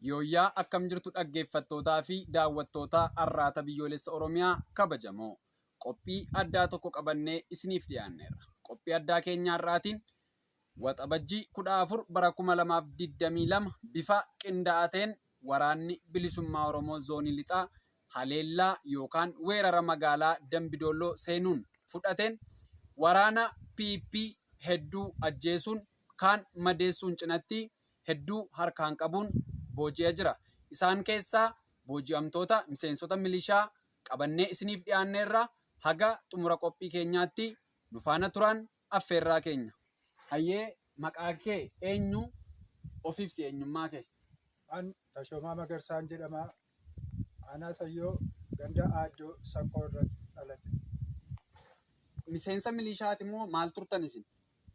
Yooyyaa akkam jirtu dhaggeeffattootaa fi daawwattootaa Arraata Biyyoolessa Oromiyaa kabajamoo qophii addaa tokko qabannee isiniif dhiyaanneerra. Qophii addaa keenya har'aatiin Waxabajjii 14 bara 2022 bifa qindaa'aa ta'een Waraanni Bilisummaa Oromoo Zoonii Lixaa haleellaa yookaan weerara magaalaa Dambi Doolloo seenuun fudhateen waraana PP hedduu ajjeesuun kaan madeessuun cinatti hedduu harkaan qabuun booji'a jira. Isaan keessaa booji'amtoota miseensota milishaa qabannee isiniif dhiyaanneerra haga xumura qophii keenyaatti nu faana turaan Affeerraa keenya. Hayyee maqaa kee eenyu? Of ibsi eenyummaa kee. An Tashoomaa Magarsaan jedhama. Aanaa Sayyoo ganda Aaddoo Sakkoo irratti dhaladhe. Miseensa milishaati moo maal turtan isin?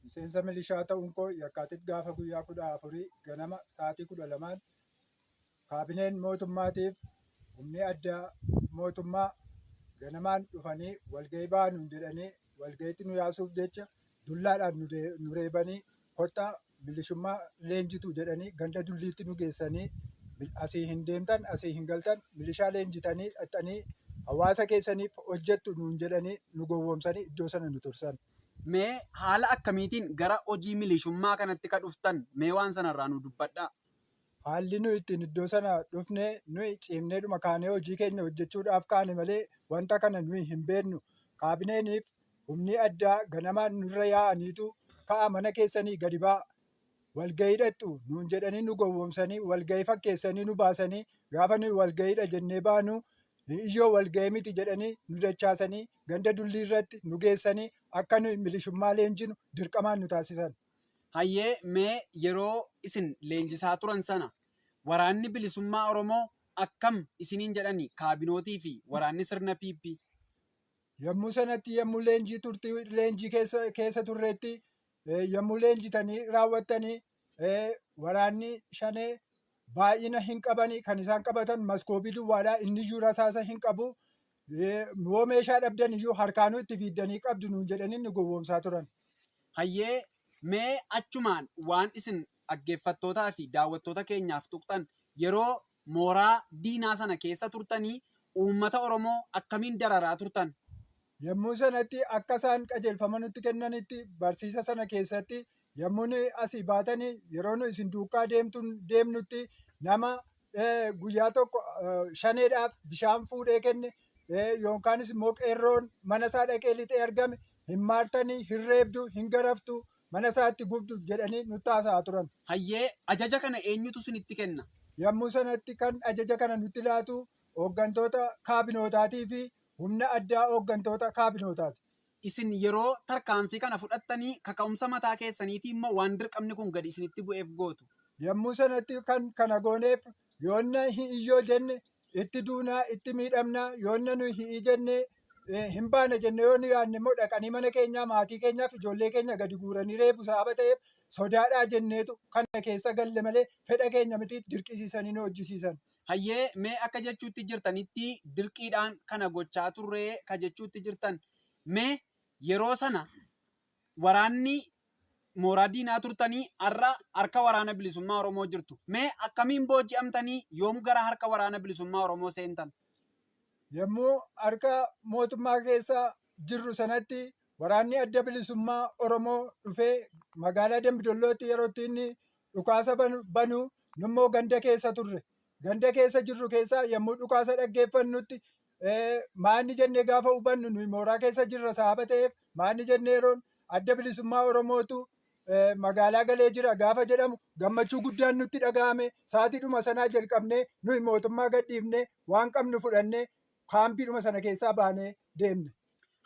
Miseensa milishaa ta'uun koo yakkaatit gaafa guyyaa kudha afurii ganama sa'aatii kudha lamaan Kaabineen mootummaatiif humni addaa mootummaa ganamaan dhufanii walgahii bahaa nuun jedhanii walgahiitti nu yaasuuf jecha dullaadhaan nu reebanii kottaa milishummaa leenjitu jedhanii ganda dulliitti nu geessanii asii hin deemtan asii hin galtan milishaa leenjitanii dhaqxanii hawaasa keessaniif hojjettu nuun jedhanii nu gowwoomsanii iddoo sana nu tursan. Mee haala akkamiitiin gara hojii milishummaa kanatti ka dhuftan mee waan sanarraa nu dubbadhaa. Haalli nuyi ittiin iddoo sana dhufne nuyi ciimneedhuma kaanee hojii keenya hojjechuudhaaf kaane malee wanta kana nuyi hin beeknu. Kaabineeniif humni addaa ganamaan nurra yaa'aniitu ka'aa mana keessanii gadi ba'aa walgahii dhaqxu nuun jedhanii nu gowwoomsanii walgahii fakkeessanii nu baasanii gaafa nuyi walgahiidha jennee baanu iyyoo walgahii miti jedhanii nu dachaasanii ganda dullii irratti nu geessanii akka nuyi milishummaa leenjinu dirqamaan nu taasisan. Hayyee mee yeroo isin leenjisaa turan sana waraanni bilisummaa Oromoo akkam isiniin jedhani kaabinootii fi waraanni sirna PP? Yommuu sanatti yommuu leenjii turti leenjii keessa keessa turreetti yommuu leenjitanii raawwattanii waraanni shanee baay'ina hin qabani kan isaan qabatan maskoobii duwwaadha inniyyuu rasaasa hin qabu Yoo meeshaa dhabdan iyyuu harkaanuu itti fiiddanii qabdu nuun jedhanii nu gowwoomsaa turan. Hayyee, mee achumaan waan isin dhaggeeffattootaa fi daawwattoota keenyaaf tuqxan, yeroo mooraa diinaa sana keessa turtanii uummata Oromoo akkamiin dararaa turtan? Yommuu sanatti akka isaan qajeelfama nutti kennanitti barsiisa sana keessatti Yommuu nuyi asii baatanii yeroo nu isin duukaa deemtuun deemnutti nama eh, guyyaa tokko eh, shaneedhaaf bishaan fuudhee kenne eh, yookaanis immoo qeerroon mana isaa dhaqee lixee argame hin maartanii hin reebdu hin garaftu mana isaatti gubdu jedhanii nutti haasa'aa turan. Hayyee ajaja kana eenyutu isinitti kenna? Yommuu sanatti kan ajaja kana nutti laatu hooggantoota kaabinootaatii fi humna addaa hooggantoota kaabinootaati. Isin yeroo tarkaanfii kana fudhattanii kaka'umsa mataa keessaniitiin moo waan dirqamni kun gadi isinitti bu'eef gootu? Yommuu sanatti kan kana gooneef yoonna hi'i yoo jenne itti duuna, itti miidhamna, yoonna nu hi'i jenne hin baana jenne yoo nu yaadne immoo dhaqanii mana keenyaa, maatii keenyaa fi ijoollee keenya gadi guuranii reebu sababa ta'eef sodaadhaa jenneetu kana keessa galle malee fedha keenya miti dirqisiisanii nu hojjisiisan. Hayyee mee akka jechuutti jirtanitti dirqiidhaan kana gochaa turree ka jechuutti jirtan mee yeroo sana waraanni mooraa diinaa turtanii har'a harka waraana bilisummaa Oromoo jirtu mee akkamiin booji'amtanii yoom gara harka waraana bilisummaa Oromoo seentan? Yommuu harka mootummaa keessa jirru sanatti waraanni adda bilisummaa Oromoo dhufee magaalaa Dambidollootti yeroo inni dhukaasa banu nummoo ganda keessa turre. Ganda keessa jirru keessaa yommuu dhukaasa dhaggeeffannutti maanni jennee gaafa hubannu nuyi mooraa keessa jirra sababa ta'eef maanni jennee yeroon adda bilisummaa Oromootu magaalaa galee jira gaafa jedhamu gammachuu guddaan nutti dhaga'ame sa'aatiidhuma sanaa jalqabnee nuyi mootummaa gadhiifnee waan qabnu fudhannee kaampiidhuma sana keessaa baanee deemne.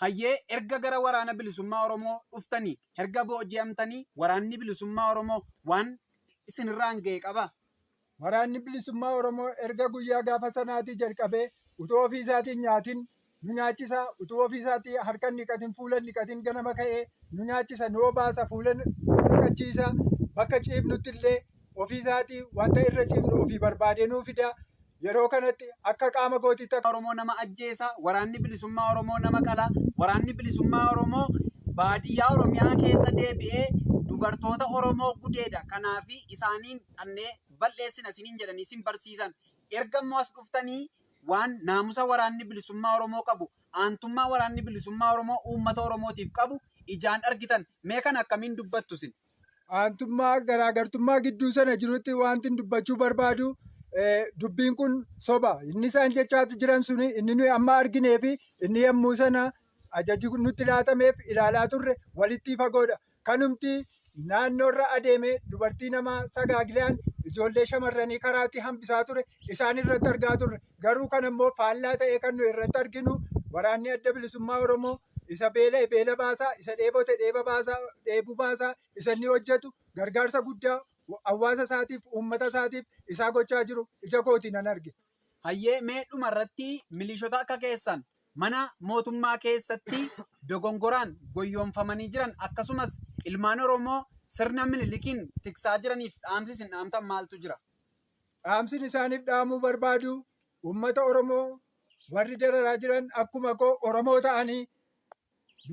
Hayyee erga gara waraana bilisummaa Oromoo dhuftanii erga booji'amtanii waraanni bilisummaa Oromoo waan isinirraan ga'e qabaa? Waraanni bilisummaa Oromoo erga guyyaa gaafa sanaatii jalqabee utuu ofii isaatiin nyaatin nu nyaachisa, utuu ofii isaatii harka hin dhiqatin fuula hin dhiqatin ganama ka'ee nu nyaachisa, nu obaasa, fuula nu dhiqachiisa, bakka ciifnutti illee ofii isaatii wanta irra cimnu ofii barbaadee nuu fida. Yeroo kanatti akka qaama gootiitti akka Oromoo nama ajjeesa, waraanni bilisummaa Oromoo nama qala, waraanni bilisummaa Oromoo baadiyyaa Oromiyaa keessa deebi'ee dubartoota Oromoo gudeeda. Kanaafi isaaniin dhannee bal'eessina isiniin jedhanii isin barsiisan. Erga immoo as dhuftanii waan naamusa waraanni bilisummaa Oromoo qabu, aantummaa waraanni bilisummaa Oromoo uummata Oromootiif qabu ijaan argitan. Mee kana akkamiin dubbattu isin? aantummaa garaagartummaa gidduu sana jirutti wanti dubbachuu barbaadu dubbiin kun soba. Inni isaan jechaa jiran sun inni nuyi amma arginee fi inni yommuu sana ajaji nutti laatameef ilaalaa turre walitti fagoodha. Kanumti naannoorra adeemee dubartii namaa sagaagilaan ijoollee shamarranii karaatti hambisaa ture isaan irratti argaa turre. Garuu kan ammoo faallaa ta'ee kan nuyi irratti arginu waraanni adda bilisummaa Oromoo isa beela'e beela baasaa, isa dheebote dheeba baasaa, dheebu baasaa isa inni hojjetu gargaarsa guddaa hawaasa isaatiif, uummata isaatiif isaa gochaa jiru ija kootiin nan arge. Hayyee mee dhuma irratti miliishota akka keessan mana mootummaa keessatti dogongoraan goyyoomfamanii jiran akkasumas ilmaan Oromoo sirna Minilikiin tiksaa jiraniif dhaamsi isin dhaamtan maaltu jira? Dhaamsin isaaniif dhaamuu barbaadu uummata Oromoo warri dararaa jiran akkuma koo Oromoo ta'anii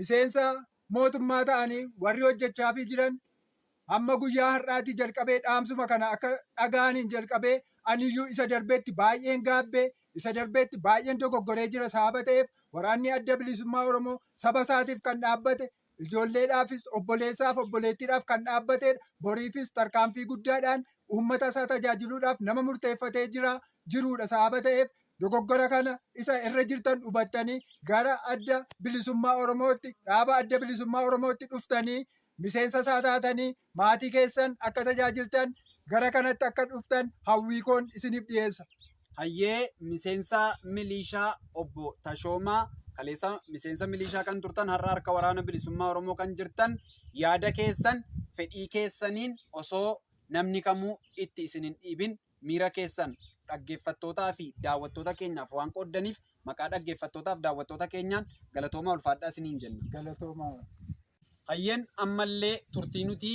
miseensa mootummaa ta'anii warri hojjechaafii jiran hamma guyyaa har'aatii jalqabee dhaamsuma kana akka dhaga'aniin jalqabee aniyyuu isa darbeetti baay'een gaabbee isa darbeetti baay'een dogoggoree jira sababa ta'eef waraanni adda bilisummaa Oromoo saba isaatiif kan dhaabbate Ijoolleedhaafis, obboleessaaf, obboleettiidhaaf kan dhaabbateedha. Boriifis tarkaanfii guddaadhaan uummata isaa tajaajiluudhaaf nama murteeffatee jira jiruudha. Sababa ta'eef dogoggora kana isa irra jirtan hubattanii gara adda bilisummaa Oromootti, dhaaba adda bilisummaa Oromootti dhuftanii miseensa isaa taatanii maatii keessan akka tajaajiltan gara kanatti akka dhuftan hawwii koon isiniif dhiyeessa. Hayyee miseensa miliishaa obbo Tashoomaa kaleessa miseensa miliishaa kan turtan har'a harka waraana bilisummaa Oromoo kan jirtan yaada keessan fedhii keessaniin osoo namni kamuu itti isin hin dhiibin miira keessan dhaggeeffattootaa fi daawwattoota keenyaaf waan qooddaniif Maqaa dhaggeeffattootaaf daawwattoota keenyaan galatoomaa ulfaadhaa isiniin jenna. Galatoomaa. Hayyeen ammallee turtii nuti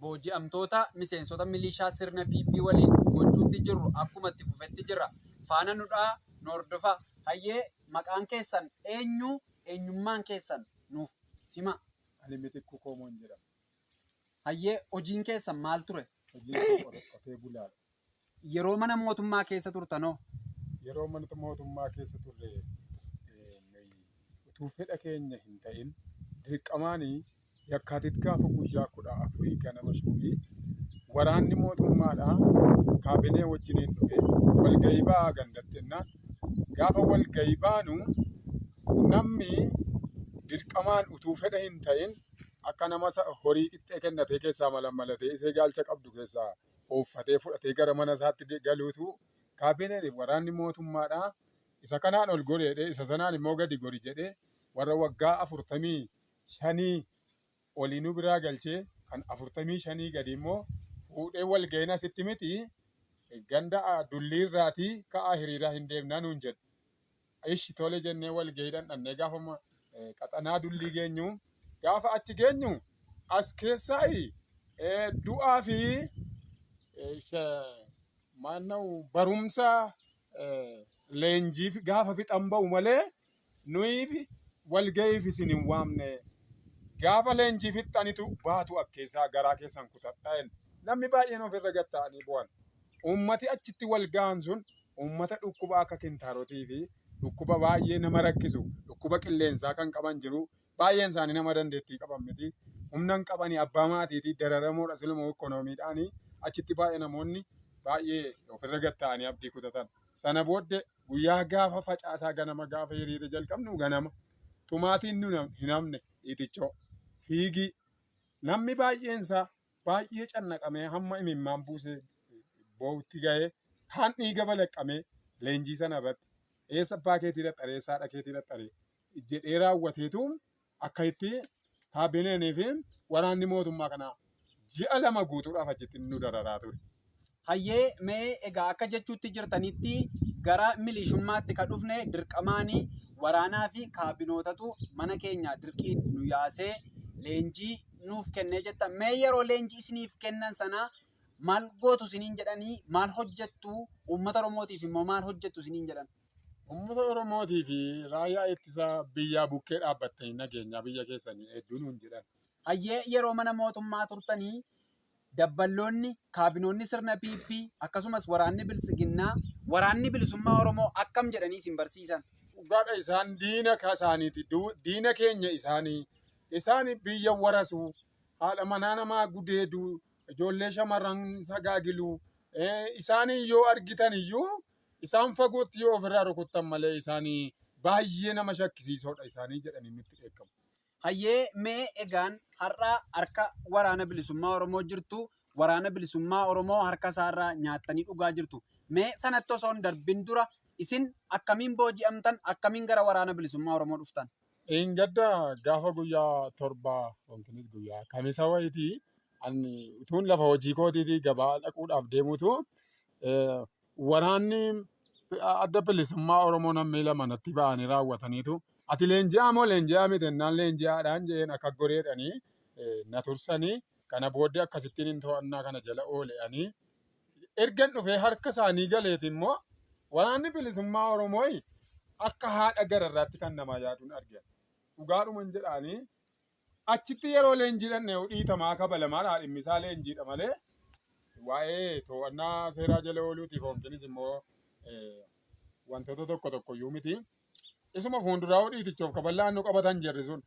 booji'amtoota miseensota milishaa sirna PP waliin gochuutti jirru akkuma itti fufetti jira. Faana nudhaa nu hordofaa. Hayyee maqaan keessan eenyu eenyummaan keessan nuuf himaa. Ani Mitikkuu Koomoon jedhama. Hayyee hojiin keessan maal ture? Hojiin koo qotee bulaadha. Yeroo mana mootummaa keessa turtanoo? Yeroo mana mootummaa keessa turre utuu fedha keenya hin ta'in dirqamaan yakkaatit gaafa guyyaa kudha afurii ganama shuumii waraanni mootummaadhaa kaabinee wajjiniin dhufe walgahii ba'aa gandatti jennaan gaafa walgahii baanu namni dirqamaan utuu fedha hin ta'in akka nama horii qixxee kennatee keessaa malammalatee isee gaalcha qabdu keessaa ooffatee fudhatee gara mana isaatti de- galuutu kaabineen waraanni mootummaadha. Isa kanaan ol gori jedhee isa sanaan immoo gadi gori jedhee warra waggaa afurtamii shanii olii nu biraa galchee kan afurtamii shanii gadi immoo fuudhee wal ga'een asitti miti ganda ah, dullii irraatii ka'aa hiriiraa hin deemnaa nuun jedhe. Ishi tole jennee walgahiidhaan dhannee gaafuma qaxanaa dullii geenyu gaafa achi geenyu as keessaa du'aa fi maanna'u barumsa leenjiif gaafa fixan ba'u malee nuyiif walgahiif isin hin waamne gaafa leenjii fixxanitu baatu akkeessaa garaa keessan kutadha namni baay'een ofirra gatta'anii bu'an. Uummati achitti wal gahan sun uummata dhukkuba akka kintaarotii fi dhukkuba baay'ee nama rakkisu dhukkuba qilleensaa kan qaban jiru. Baay'een isaanii nama dandeettii qaban miti. Humna hin qabani abbaa maatiitii dararamoodha silumoo ikkonoomiidhaani achitti baay'ee namoonni baay'ee ofirra gad ta'anii abdii kutatan. Sana booddee guyyaa gaafa facaasaa ganama gaafa hiriira jalqabnu ganama tumaatiin nu hin hafne dhiitichoo fiigii namni baay'een isaa baay'ee cannaqamee hamma imimmaan buusee boo'utti gahee kaan dhiiga balaqqamee leenjii sana irratti eessa abbaa keetii dhaxxaree eessa haadha keetii dhaxxaree jedhee raawwateetu akka itti kaabineenii fi waraanni mootummaa kanaa ji'a lama guutuudhaaf achitti nu dararaa ture. Hayyee mee egaa akka jechuutti jirtanitti gara miliishummaatti ka dhufne dirqamaani waraanaa fi kaabinootatu mana keenya dirqiin nu yaasee leenjii nuuf kennee jettan. Mee yeroo leenjii isiniif kennan sana maal gootu isiniin jedhanii maal hojjettu uummata Oromootiif immoo maal hojjettu isiniin jedhan? Uummata Oromootii fi raayyaa ittisa biyyaa bukkee dhaabbattanii nageenyaa biyya keessanii eegduu nuun jedhan. Hayyee yeroo mana mootummaa turtanii dabballoonni, kaabinoonni sirna PP, akkasumas waraanni Biltsiginnaa, Waraanni Bilisummaa Oromoo akkam jedhanii isin barsiisan? Dhugaadha isaan diina kasaaniiti, diina keenya isaani. Isaan biyya warasu, haadha manaa namaa gudeedu, ijoollee shamarran sagaagilu. Isaan yoo argitan iyyuu isaan fagootti yoo ofirraa rukuttan malee isaan baay'ee nama shakkisiisoodha isaanii jedhanii nutti dheekkamu. Hayyee mee egaan har'a harka waraana bilisummaa Oromoo jirtu waraana bilisummaa Oromoo harka isaarraa nyaattanii dhugaa jirtu. Mee sanatti osoo hin darbin dura isin akkamiin booji'amtan akkamiin gara waraana bilisummaa Oromoo dhuftan? Dheengadda gaafa guyyaa torba yookiinis guyyaa kamisa wayitii ani utuun lafa hojii kootiitii gabaa dhaquudhaaf deemutu Waraanni adda bilisummaa Oromoo nammee lama natti ba'anii raawwataniitu ati leenji'aa moo leenji'aa miti ennaan leenji'aadhaan je'een akka goreedhanii na tursanii kana booddee akkasittiin hin to'annaa kana jala oole'anii ergan dhufee harka isaanii galeeti immoo waraanni bilisummaa Oromoo akka haadha gararraatti kan namaa yaaduun argan dhugaadhuman jedhaanii Achitti yeroo leenjii dhandhee'u dhiitamaa kabalamaadha dhimmisaa leenjiidha malee waa'ee to'annaa seeraa jala ooluutiif hoonkinis immoo wantoota tokko tokko iyyuu miti. Isuma fuunduraa dhiitichoof kaballaan nu qabatan jirri sun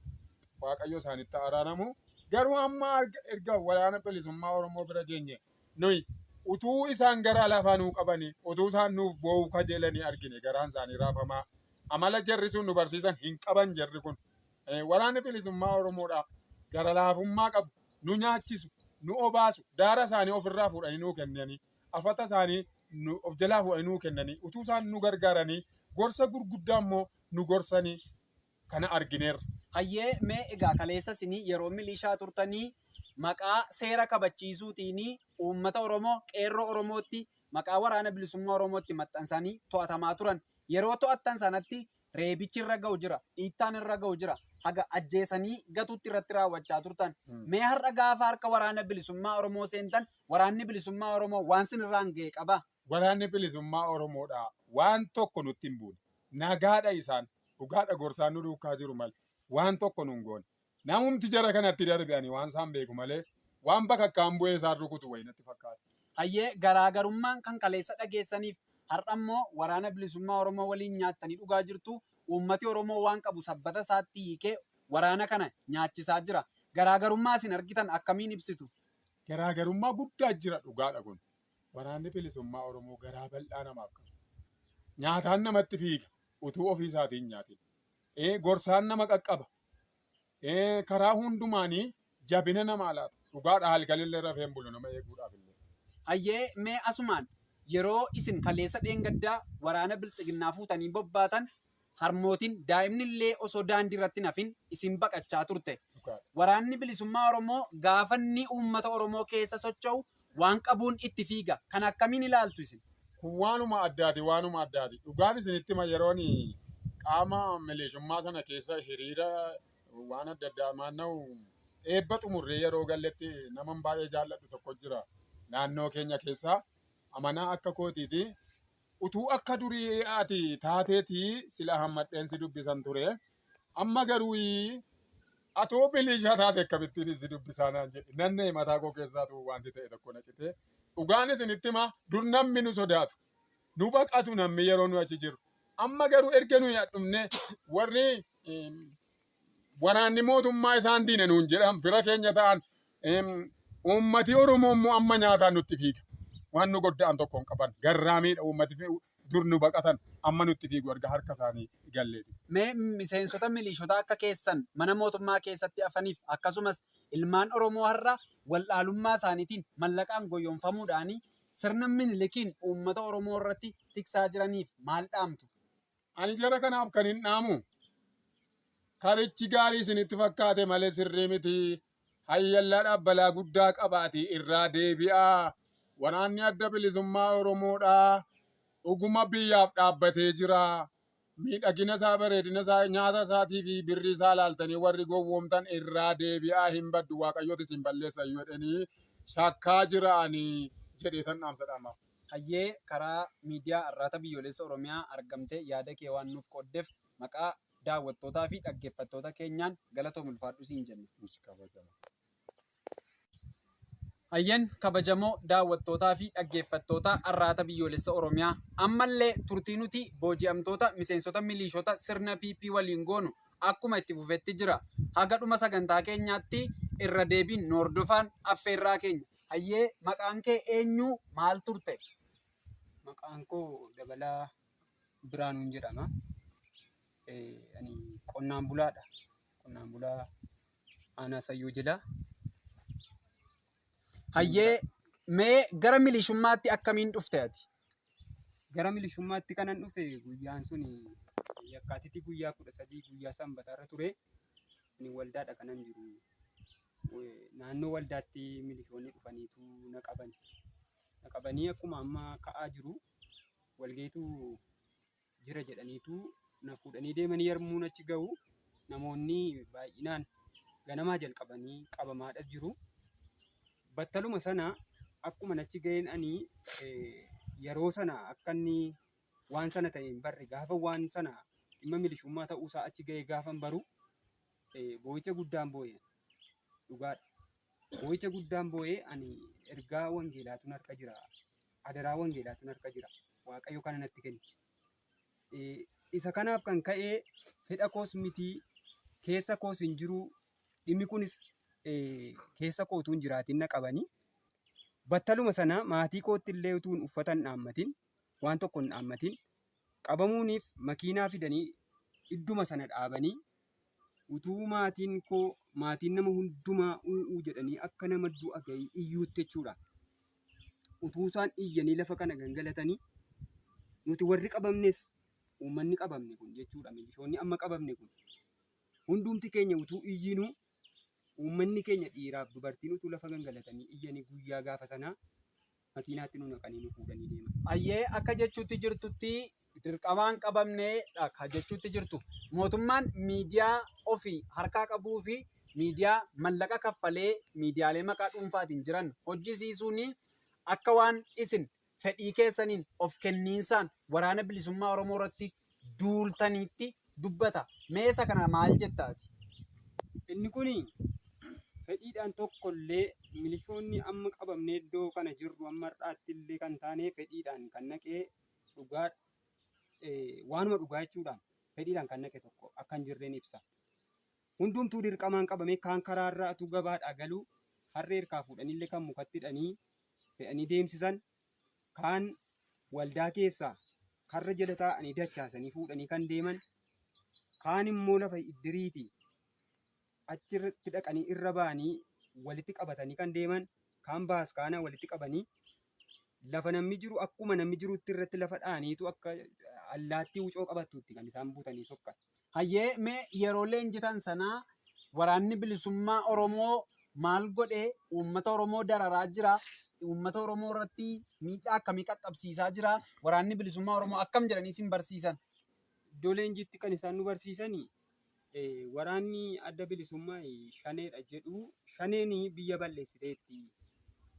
waaqayyo isaanitti araaramu. Garuu amma erga waraana bilisummaa Oromoo bira geenye nuyi utuu isaan garaa lafaa nuu qabanii utuu isaan nuuf boo'uu kajeelanii argine garaan isaanii raafamaa amala jarri sun nu barsiisan hin qaban jarri kun eh, waraanni bilisummaa Oromoodhaa gara laafummaa qabu nu nyaachisu nu obaasu daara isaanii ofirraa fuudhanii nuu kennanii afata isaanii nu of jalaa fuudhanii nuu kennanii utuu isaan nu gargaaranii gorsa gurguddaa immoo nu gorsanii kana argineerra. Hayyee mee egaa kaleessa isinii yeroo milishaa turtanii maqaa seera kabachiisuutiin uummata Oromoo qeerroo Oromootti maqaa waraana bilisummaa Oromootti maxxansanii to'atamaa turan. Yeroo to'attan sanatti reebichi irra ga'u jira, dhiittaan irra ga'u jira, haga ajjeesanii gatuutti irratti raawwachaa turtan. Mee har'a gaafa harka waraana bilisummaa Oromoo seentan waraanni bilisummaa Oromoo waan sin irraan ga'e qaba? Waraanni bilisummaa Oromoodha waan tokko nutti hin buune. Nagaadha isaan. Dhugaadha gorsaan nu duukaa jiru malee waan tokko nun goone. Namumti jara kanatti darbe ani waan isaan beeku malee waan bakakkaan bu'ee isaan rukutu wayi natti fakkaata. Hayyee garaagarummaan kan kaleessa dhageessaniif har'a immoo Waraana Bilisummaa Oromoo waliin nyaattanii dhugaa jirtu. Uummati Oromoo waan qabu sabbata isaatti hiikee waraana kana nyaachisaa jira. Garaagarummaa isin argitan akkamiin ibsitu? Garaagarummaa guddaa jira dhugaadha kun. Waraanni Bilisummaa Oromoo garaa bal'aa namaaf qaba. Nyaataan namatti fiiga utuu ofii isaatii hin nyaatin. ee, gorsaan nama qaqqaba. Ee, karaa hundumaanii jabina namaa laata. Dhugaadha halkanillee rafee hin bulu nama eeguudhaaf illee. Hayyee mee asumaan yeroo isin kaleessa dheengaddaa waraana biltsiginnaa fuutanii bobbaatan harmootiin daa'imni illee osoo daandii irratti hin hafin isin baqachaa turte. Dhugaadha. Waraanni bilisummaa Oromoo gaafa inni uummata Oromoo keessa socho'u waan qabuun itti fiiga. Kana akkamiin ilaaltu isin? Kun waanuma addaati waanuma addaati. Dhugaan isinitti hima yeroon qaama mileeshummaa sana keessa hiriira waan adda addaa maanna'u eebba xumurree yeroo galletti naman baay'ee jaalladhu tokko jira naannoo keenya keessaa amanaa akka kootiiti. Utuu akka durii ati taateeti sila hammadheen si dubbisan ture. Amma garuu atoo biliishaa taate akkamittiin si dubbisaa naan jedhe. Nanna'e mataa koo keessaatu wanti ta'e tokko na citee. Dhugaan isinitti himaa dur namni nu sodaatu. Nu baqatu namni yeroo nu achi jiru. Amma garuu erga nuyi dhumne warri waraanni mootummaa isaan diina nuun jedhan fira keenya ta'an uummati Oromoo immoo amma nyaataan nutti fiiga. Waan nu godda'an tokko hin qaban. Garraamiidha uummati Dur nu baqatan, amma nutti fiigu erga harka isaanii galleeti. Mee miseensota milishotaa akka keessan mana mootummaa keessatti hafaniif akkasumas ilmaan Oromoo har'a wal'aalummaa isaaniitiin mallaqaan goyyomfamuudhaan sirna Minilikiin uummata Oromoo irratti tiksaa jiraniif maal dhaamtu? Ani jara kanaaf kanin dhaamu, Karichi gaarii isinitti fakkaate malee sirrii miti. Hayyallaadhaaf balaa guddaa qabaati irraa deebi'aa. Waraanni adda bilisummaa Oromoodhaa dhuguma biyyaaf dhaabbatee jira. Miidhagina isaa, bareedina isaa, nyaata isaatii fi birrii isaa laaltanii warri gowwoomtan irraa deebi'aa hin baddu waaqayyooti isin balleessa jedhanii shakkaa jiraanii jedhee tan dhaamsa dhaamaaf. Hayyee karaa miidiyaa Arraata Biyyoolessa Oromiyaa argamtee yaada kee waan nuuf qooddef maqaa daawwattootaa fi dhaggeeffattoota keenyaan galatoomi ulfaadhu siin jenna. Ish kabajama. Hayyeen kabajamoo daawwattootaa fi dhaggeeffattoota Arraata Biyyoolessa Oromiyaa ammallee turtii nuti booji'amtoota miseensota miliishota sirna PP waliin goonu akkuma itti fufetti jira. Haga dhuma sagantaa keenyaatti irra deebiin nu hordofaan affeerraa keenya. Hayyee maqaan kee eenyu maal turte? Maqaan koo Dabalaa Biraanuun jedhama. Ani qonnaan bulaadha. Qonnaan bulaa aanaa sayyoo jila. Hayyee mee gara milishummaatti akkamiin dhufte ati? Gara milishummaatti kanan dhufe guyyaan sun yakkaatitii guyyaa kudha sadii guyyaa sanbataarra ture. Ani waldaadha kanan jiru. Naannoo waldaatti milishoonni dhufaniitu na qaban. Na qabanii akkuma amma ka'aa jiru. walgahiitu jira jedhaniitu na fuudhanii deemanii yarmuun achi gahu namoonni baay'inaan ganamaa jalqabanii qabamaadha jiru. Battaluma sana akkuma achi gaheen ani yeroo sana akka inni waan sana ta'e hin barre gaafa waan sana dhimma milishummaa ta'uusaa achi gahee gaafan baru boo'icha guddaan boo'e dhugaadha. Boo'icha guddaan boo'e ani ergaa wangeelaatun harka jira. Adaraa wangeelaatun harka jira. Waaqayyo kana natti kenne. Isa kanaaf kan ka'e fedha koos miti keessa koos hin jiru. Dhimmi kunis keessa kootuu hin jiraatin na qabani. Battaluma sana maatii kootti illee utuun uffata hin dhaammatin waan tokko hin dhaammatin Qabamuuniif makiinaa fidanii idduma sana dhaabanii utuu maatiin koo maatiin nama hundumaa u'uu jedhanii akka nama du'a ga'ii iyyuutti jechuudha. Utuu isaan iyyanii lafa kana gangalatanii nuti warri qabamnes uummanni qabamne kun jechuudha milishoonni amma qabamne kun hundumti keenya utuu iyyinuu uummanni keenya dhiiraaf dubartiin utuu lafa gangalatanii iyyanii guyyaa gaafa sanaa makiinaatti nu naqanii nu fuudhanii deeman. Ayyee akka jechuutti jirtutti dirqamaan qabamneedha ka jechuutti jirtu. Mootummaan miidiyaa ofi harkaa qabuu fi miidiyaa mallaqa kaffalee miidiyaalee maqaa dhuunfaatiin jiran hojjisiisuun akka waan isin fedhii keessaniin of kenniinsaan waraana bilisummaa Oromoo irratti duultaniitti dubbata. Mee isa kana maal jetta ati? Inni kun fedhiidhaan tokko illee milishoonni amma qabamnee iddoo kana jirru amma har'aatti illee kan taane fedhiidhaan kan naqee dhugaa waanuma dhugaa jechuudhaan fedhiidhaan kan naqe tokko akka hin jirreen ibsa. Hundumtuu dirqamaan qabamee kaan karaa irraa utuu gabaadhaa galuu harree harkaa fuudhanii illee kan mukatti hidhanii fe'anii deemsisan Kaan waldaa keessaa karra jala taa'anii dachaasanii fuudhanii kan deeman, kaan immoo lafa iddiriiti achi irratti dhaqanii irra ba'anii walitti qabatanii kan deeman, kaan baaskaana walitti qabanii lafa namni jiru akkuma namni jirutti irratti lafa dha'aniitu akka allaattii wucoo qabattuutti kan isaan butanii sokkan. Hayyee mee yeroo leenjitan sana waraanni bilisummaa Oromoo maal godhe uummata Oromoo dararaa jira uummata Oromoo irratti miidhaa akkamii qaqqabsiisaa jira waraanni bilisummaa Oromoo akkam jedhanii isin barsiisan? Iddoo leenjiitti kan isaan nu barsiisani waraanni adda bilisummaa shaneedha jedhu shaneen biyya balleessiteetti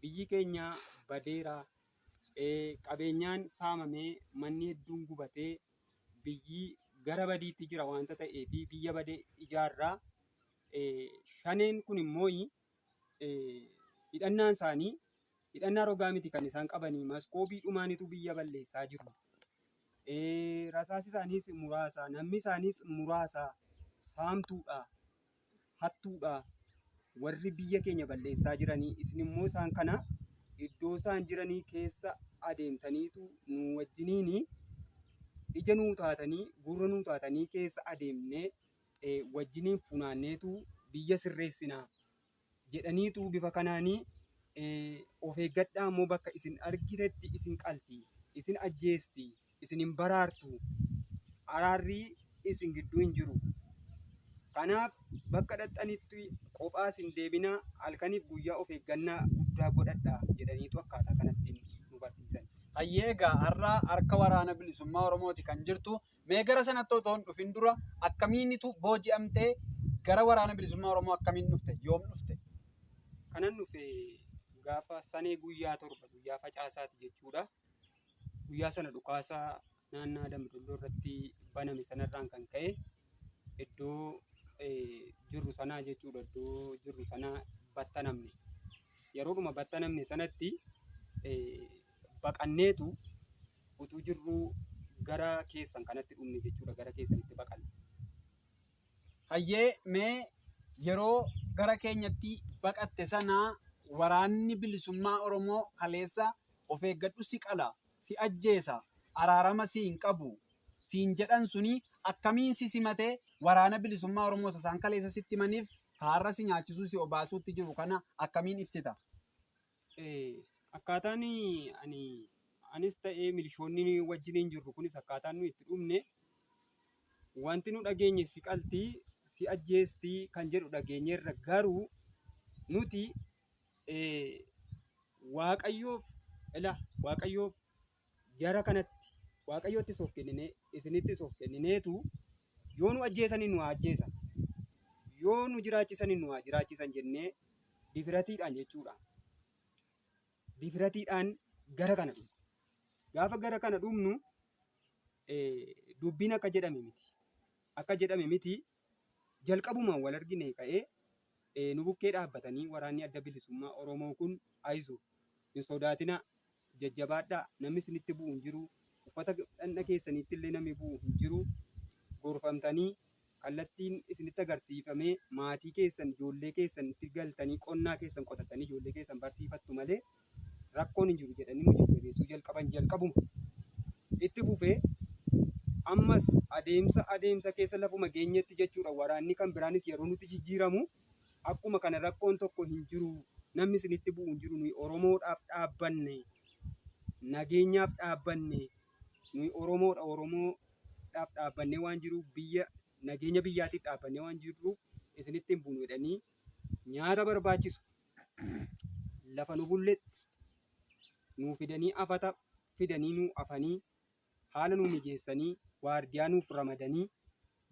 biyyi keenya badeera qabeenyaan saamamee manni hedduun gubatee biyyi gara badiitti jira waanta ta'ee fi biyya bade ijaarraa shaneen kun immoo hidhannaan isaanii hidhannaa rogaa miti kan isaan qabanii maskoobii dhumaanitu biyya balleessaa jiru. Rasaasi isaaniis muraasa namni isaaniis muraasa saamtuudha hattuudha. Warri biyya keenya balleessaa jiranii isin immoo isaan kana iddoo isaan jiranii keessa adeemtaniitu nu wajjiniin ija nuu taatanii gurra nuu taatanii keessa adeemnee wajjiniin funaanneetu biyya sirreessinaa. jedhaniitu bifa kanaani of eeggadhaa immoo bakka isin argitetti isin qalti isin ajjeesti isin hin baraartu araarrii isin gidduu hin jiru kanaaf bakka dhaxxanitti qophaa isin deebinaa halkaniif guyyaa of eeggannaa guddaa godhadha jedhaniitu akkaataa kanatti nu barsiisan. Hayyee egaa har'a harka waraana bilisummaa Oromooti kan jirtu Mee gara sanatti otoo hin dhufin dura akkamiinitu booji'amtee gara Waraana Bilisummaa Oromoo akkamiin dhufte? Yoom dhufte? Kanan dhufe gaafa sanee guyyaa torba guyyaa facaasaati jechuudha. Guyyaa sana dhukaasa naannaa Dambidolloo irratti baname sanarraan kan ka'e iddoo eh, jirru sanaa jechuudha iddoo jirru sanaa battanamne. Yeroodhuma battanamne sanatti eh, baqanneetu utuu jirruu gara keessan kanatti dhumne jechuudha gara keessanitti baqanne. Hayyee mee yeroo gara keenyatti baqatte sana waraanni bilisummaa Oromoo kaleessa of eeggadhu si qala, si ajjeesa, araarama si hin qabu siin jedhan suni akkamiin si simate waraana bilisummaa Oromoo isa isaan kaleessa sitti himaniif kaarra si nyaachisuu si obaasuutti jiru kana akkamiin ibsita? Akkaataan ani anis ta'ee milishoonni wajjiniin jirru kunis akkaataan nu itti dhumne wanti nu dhageenye si qaltii si ajjeestii kan jedhu dhageenyeerra garuu nuti waaqayyoof ila waaqayyoof Jara kanatti Waaqayyottis of kennine, isinittis of kennineetu yoo nu ajjeesanii nu haa ajjeesan, yoo nu jiraachisanii nu haa jiraachisan jennee difiratiidhaan jechuudha. Difiratiidhaan gara kana dhufne. Gaafa gara kana dhufnu eh, dubbiin akka jedhame miti. Akka jedhame miti Jalqabuma wal arginee ka'ee nu bukkee dhaabbatanii waraanni adda bilisummaa Oromoo kun ayizu hin sodaatinaa jajjabaadhaa namni isinitti bu'u hin jiru uffata dhandha keessaniitti illee namni bu'u hin jiru gorfamtanii kallattiin isinitti agarsiifamee maatii keessan ijoollee keessan itti galtanii qonnaa keessan qotattanii ijoollee keessan barsiifattu malee rakkoon hin jiru jedhanii nu jajjabeessuu jalqaban jalqabuma. Itti fufee ammas adeemsa adeemsa keessa lafuma geenyetti jechuudha waraanni kan biraanis yeroo nutti jijjiiramu akkuma kana rakkoon tokko hin jiru namni isinitti bu'u hin jiru nuyi Oromoodhaaf dhaabbanne nageenyaaf dhaabbanne nuyi Oromoodha Oromoodhaaf dhaabbannee waan jiruuf biyya nageenya biyyaatiif dhaabbannee waan jirruuf isinitti hin buunu jedhanii nyaata barbaachisu lafa nu bulletti nuu fidanii afata fidanii nuu afanii haala nuu mijeessanii waardiyaa nuuf ramadanii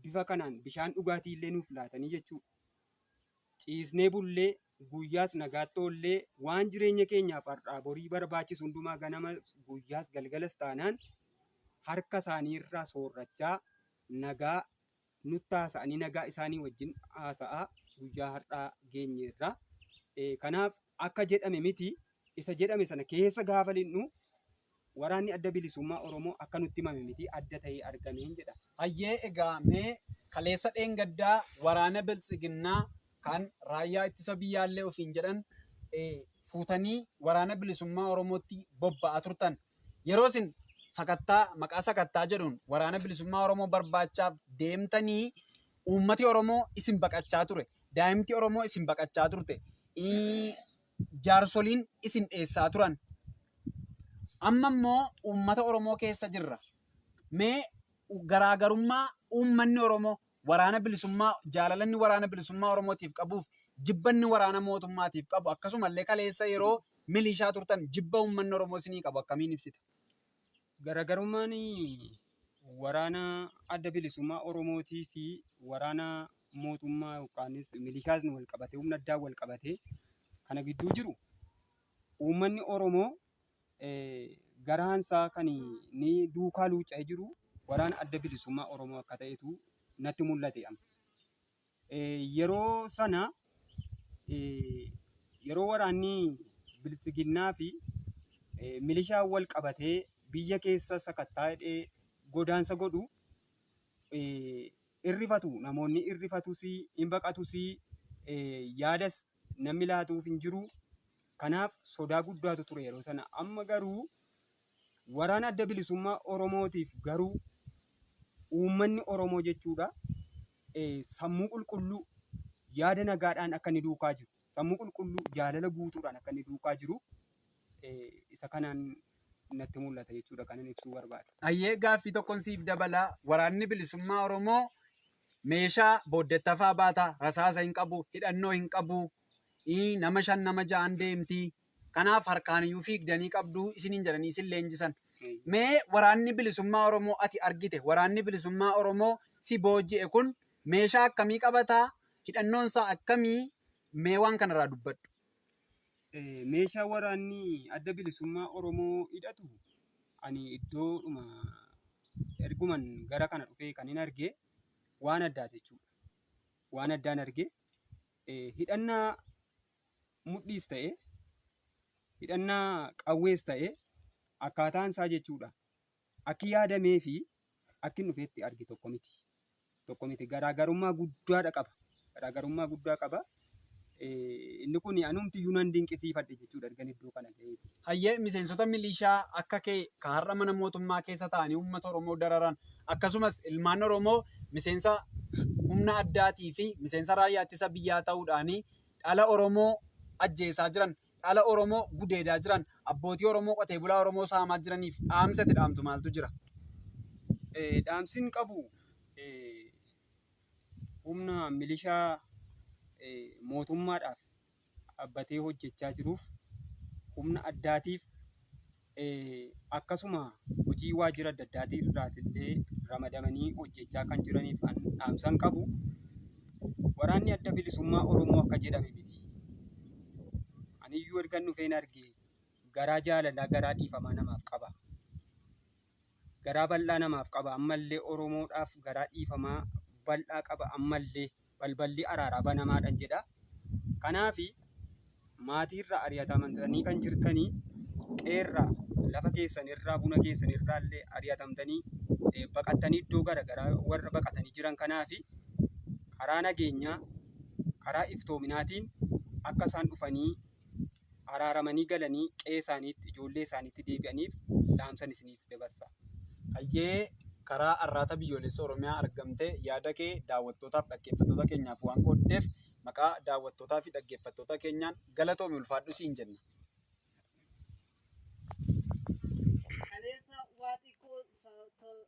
bifa kanaan bishaan dhugaatii illee nuuf laatanii jechuudha. Ciisnee bullee guyyaas nagaatti oollee waan jireenya keenyaaf har'aa borii barbaachisu hundumaa ganama guyyaas galgalas taanaan harka isaanii irraa soorrachaa nagaa nutti haasa'anii nagaa isaanii wajjin haasa'aa guyyaa har'aa geenyeerra. Eh, Kanaaf akka jedhame miti isa jedhame sana keessa gaafa lixnu waraanni adda bilisummaa Oromoo akka nutti himame miti adda ta'ee argameen jedha. Hayyee egaa mee kaleessa dheengaddaa waraana biltsiginnaa kan raayyaa ittisa biyyaallee ofiin jedhan eh, fuutanii waraana bilisummaa Oromootti bobba'aa turtan Yeroo isin sakattaa maqaa sakattaa jedhuun waraana bilisummaa Oromoo barbaachaaf deemtanii uummati Oromoo isin baqachaa ture. Daa'imti Oromoo isin baqachaa turte. Jaarsoliin isin dheessaa turan. Amma immoo uummata Oromoo keessa jirra. Mee garaagarummaa uummanni Oromoo waraana bilisummaa jaalalanni waraana bilisummaa Oromootiif qabuuf jibbanni waraana mootummaatiif qabu akkasumallee kaleessa yeroo milishaa turtan jibba uummanni Oromoo isinii qabu akkamiin ibsita? Garagarummaan waraana adda bilisummaa Oromootii fi waraana mootummaa yookaanis milishaasni wal qabatee humna addaa wal qabatee kana gidduu jiru uummanni Oromoo garaan isaa kan inni duukaa luucca'ee jiru waraana adda bilisummaa Oromoo akka ta'etu natti mul'ate amma. Yeroo sana yeroo waraanni bilisiginnaa fi milishaa wal qabatee biyya keessa sakattaa hidhee godaansa godhu irrifatu namoonni irrifatus hin baqatus yaadas namni laatuuf hin jiru. Kanaaf sodaa guddaatu ture yeroo sana. Amma garuu waraana adda bilisummaa Oromootiif garuu uummanni Oromoo jechuudha sammuu qulqulluu yaada nagaadhaan akka inni duukaa jiru sammuu qulqulluu jaalala guutuudhaan akka inni duukaa jiru isa kanaan natti mul'ata jechuudha kan inni ibsuu barbaade. Ayyee gaaffii tokkon siif dabalaa waraanni bilisummaa Oromoo meeshaa booddettafaa baata rasaasa hin qabu hidhannoo hin qabu Ii nama shan nama ja'an deemti. Kanaaf harkaan iyyuu fiigdanii qabdu isiniin jedhanii isin leenjisan. Mee waraanni bilisummaa Oromoo ati argite waraanni bilisummaa Oromoo si booji'e kun meeshaa akkamii qabataa? Hidhannoon isaa akkamii? Mee waan kanarraa dubbadhu. Eh, meeshaa waraanni adda bilisummaa Oromoo hidhatu ani iddoodhuma erguman gara kana dhufee kan hin arge waan addaati jechuudha. Waan addaan arge eh, hidhannaa mudhiis ta'e hidhannaa qawwees ta'e akkaataan isaa jechuudha akki yaadamee fi akki hin dhufeetti arge tokko miti tokko miti garaagarummaa guddaadha qaba garaagarummaa guddaa qaba Eh, inni kun anumti iyyuu nan dinqisiifadhe jechuudha ergan iddoo kana ga'eeti Hayyee miseensota milishaa akka kee ka har'a mana mootummaa keessa taa'anii uummata Oromoo dararan akkasumas ilmaan Oromoo miseensa humna addaatii fi miseensa raayyaa ittisa biyyaa ta'uudhaanii dhala Oromoo ajjeesaa jiran, dhala Oromoo gudeedaa jiran, abbootii Oromoo qotee bulaa Oromoo saamaa jiraniif dhaamsi ati dhaamtu maaltu jira? Dhaamsin qabu humna milishaa mootummaadhaaf dhaabbatee hojjechaa jiruuf humna addaatiif akkasuma hojii waajjira adda addaatii irraatillee ramadamanii hojjechaa kan jiraniif an dhaamsan qabu waraanni adda bilisummaa Oromoo akka jedhame miti. Aniyyuu ergan dhufeen arge garaa jaalalaa garaa dhiifamaa namaaf qaba. garaa bal'aa namaaf qaba ammallee oromoodhaaf garaa dhiifamaa bal'aa qaba ammallee balballi araaraa banamaadhan jedha kanaaf maatiirraa ari'atamtanii kan jirtanii qeerraa lafa keessan irraa buna keessan irraa illee ari'atamtanii eh, baqattanii iddoo gara garaa warra baqatanii jiran kanaaf karaa nageenyaa karaa iftoominaatiin akka isaan dhufanii araaramanii galanii qe'ee isaaniitti, ijoollee isaaniitti deebi'aniif dhaamsan isiniif dabarsa. Hayyee karaa Arraata Biyyoolessa Oromiyaa argamte yaada kee daawwattootaaf dhaggeeffattoota keenyaaf waan qooddeef maqaa daawwattootaa fi dhaggeeffattoota keenyaan galatoomi ulfaadhu siin jenna. Kaleessa waa xiqqoo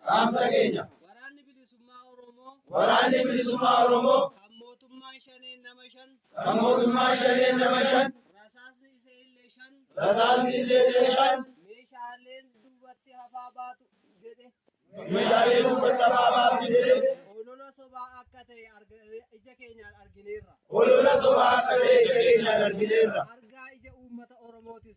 Dhaamsa keenya! Waraanni Bilisummaa Oromoo. Waraanni Bilisummaa Oromoo. Kan mootummaan Shaneen nama shan. Kan mootummaan Shaneen nama shan. Rasaasni isee illee shan. Rasaasni isee illee shan. Meeshaaleen duubatti hafaa baatu jedhe. Meeshaaleen duubatti hafaa baatu jedhe. Olola sobaa akka ta'e ija keenyaan argineerra. Olola sobaa akka ta'e ija keenyaan argineerra. Argaa ija uummata Oromootis.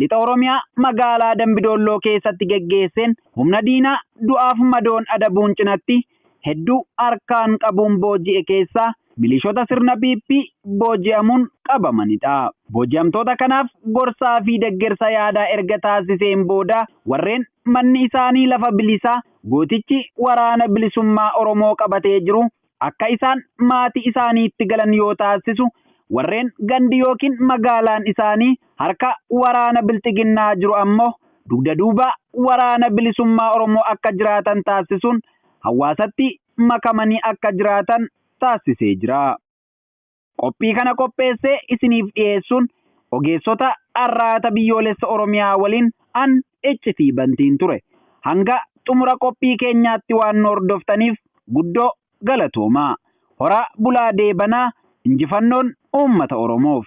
Lixa Oromiyaa magaalaa Dambi Doolloo keessatti geggeesseen humna diinaa du'aaf madoon adabuun cinatti hedduu harkaan qabuun booji'e keessaa milishoota sirna PP booji'amuun qabamanidha. Booji'amtoota kanaaf gorsaa fi deggersa yaadaa erga taasiseen booda warreen manni isaanii lafa bilisaa gootichi waraana bilisummaa Oromoo qabatee jiru akka isaan maatii isaaniitti galan yoo taasisu warreen gandi yookiin magaalaan isaanii harka waraana bilxiginnaa jiru ammoo dugda duuba waraana bilisummaa Oromoo akka jiraatan taasisuun hawaasatti makamanii akka jiraatan taasisee jira. Qophii kana qopheessee isiniif dhiyeessuun ogeessota Arraata Biyyoolessa Oromiyaa waliin an Iccitii Bantiin ture. Hanga xumura qophii keenyaatti waan nu hordoftaniif guddoo galatoomaa. Horaa bulaa deebanaa, injifannoon uummata Oromoof!